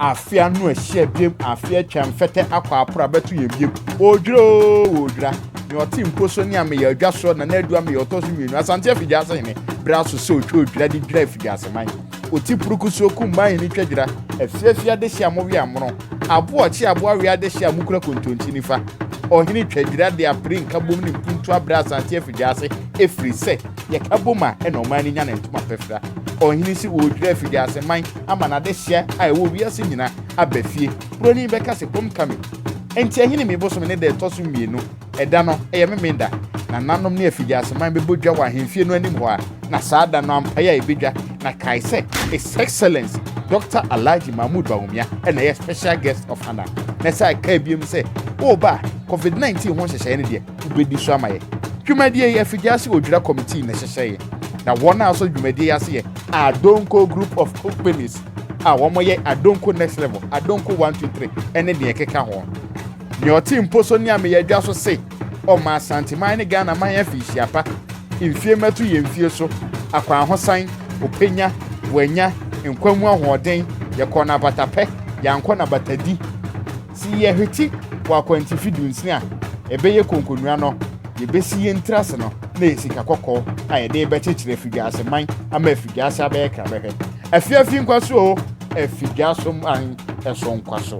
Afe ano ahyia biem, afe atwa mfɛtɛ akɔ aporo abɛto yɛn biem. Odwira oo, odwira. Nea ɔte mpo so ne ameyɛ adwa soɔ na n'adu ameyɛ ɔtɔ so mmienu. Asante afidiase hene berɛ aso sɛ ɔtwa odwira de dwira afidiase man. Ɔti purukusuo kummaa hene twa dwira, afiafi adehye a mowe amono, abo ɔkye abo awe adehye a mokura kontonkye nifa. Ɔhene twa dwira de apere nkabom ne mpuntuo abrɛ Asante afidiase ɛfiri sɛ yɛka bom a ɛna ɔman no nya ne ntoma pɛfra. Ɔhene se ɔredwira afidiase man. ama n'adesua a ɛwɔ wiase nyina aba fie. Buroni bɛka se kom ka me. Enti Ahinime bosome ne da ɛtɔ so mmienu. Ɛda no, ɛyɛ Memeneda. Nananom ne afigyaseman bɛbɔ dwa wɔ ahemfie no anim hɔ a na saa da no ampaeɛ a ɛbɛdwa na kae sɛ His Excellency Doctor Alhaji Mahmood Bawumia na ɛyɛ Special Guest of Honour. Na ɛsɛ a ɛkae biom sɛ, Woba a, Covid-19 ho nhyehyɛeɛ no deɛ, wobedi so ama yɛn. Dwumadie yi, afidie ase odwira committee na ɛhyehyɛ yɛ, na wɔn a wɔsɔ dwumadie yi ase yɛ Adonko Group of Companies a wɔyɛ Adonko Next Level, Adonko 1, 2, 3 ɛne deɛ ɛkeka ho. Nea ɔte mpo so ne Ameya Adwa so se, ɔma Asanteman ne Ghana man afi nhyia pa, mfie mmɛto yɛn mfie so, akwanhosan, openya, wanya, nkwa mu ahoɔden, yɛkɔɔ no abatapɛ, yɛankɔ no abatadi, Se yɛhwete wɔ akwantifi dunsini a ɛbɛyɛ konkonua no, yebesi yen tiri ase no na ɛyɛ sika kɔkɔɔ a yɛde rebɛkyekyere afidwiase man ama afidwiase abɛyɛ krabɛhwɛ. Afiafi nkwa so oo, afidwiaso man so nkwa so.